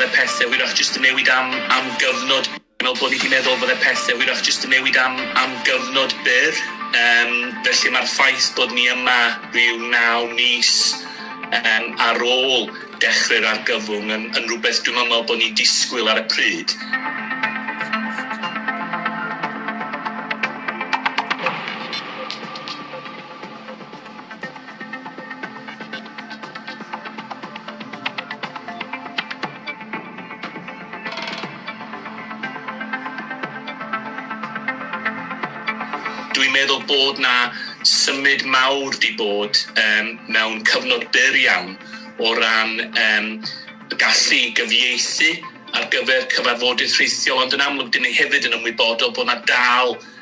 fydde pethe hwyrach jyst yn newid am am gyfnod Fi'n meddwl bod ni 'di meddwl fydde pethe hwyrach jyst yn newid am am gyfnod byr Yym felly ma'r ffaith bod ni yma ryw naw mis yym ar ôl dechre'r argyfwng yn yn rwbeth dwi'm yn meddwl bod ni'n disgwyl ar y pryd. Dwi'n meddwl bod 'na symud mawr 'di bod yym mewn cyfnod byr iawn o ran yym gallu gyfieithu ar gyfer cyfarfodydd rhithiol ond yn amlwg 'dyn ni hefyd yn ymwybodol bo' 'na dal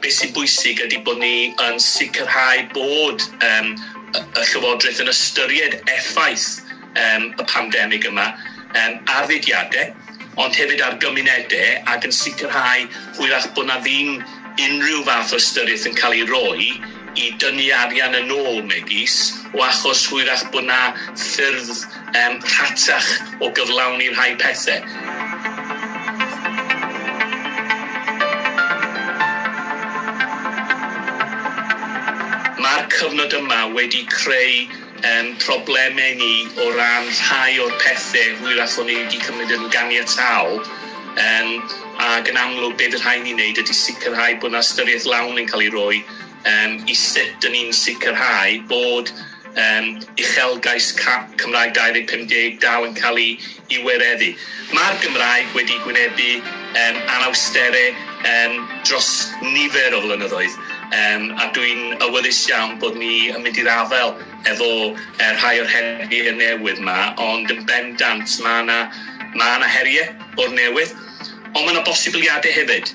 Beth sy'n bwysig ydy bod ni yn sicrhau bod yym y y Llywodraeth yn ystyried effaith yym y pandemig yma yym ar fudiade, ond hefyd ar gymunede, ac yn sicrhau hwyrach bod 'na ddim unrhyw fath o ystyriaeth yn ca'l ei roi i dynnu arian yn ôl, megis, o achos hwyrach bod 'na ffyrdd yym rhatach o gyflawni rhai pethe. Ma'r cyfnod yma wedi creu ein problemau ni o ran rhai o'r pethe hwyrach o'n ni wedi cymryd yn ganiataol, yym, ac yn amlwg be' fy' rhai' ni neud ydi sicrhau bo' 'na ystyriaeth lawn yn ca'l ei roi yym i sut 'dyn ni'n sicrhau bod yym uchelgais ca- Cymraeg 2050 dal yn ca'l 'i i wireddu. Mae'r Gymraeg wedi gwynebu yym anawstere yym dros nifer o flynyddoedd yym a dwi'n awyddus iawn bod ni yn mynd i'r afael efo yy rhai o'r heriau newydd 'ma ond yn bendant ma' 'na ma' 'na herie o'r newydd ond ma' 'na bosibiliade hefyd.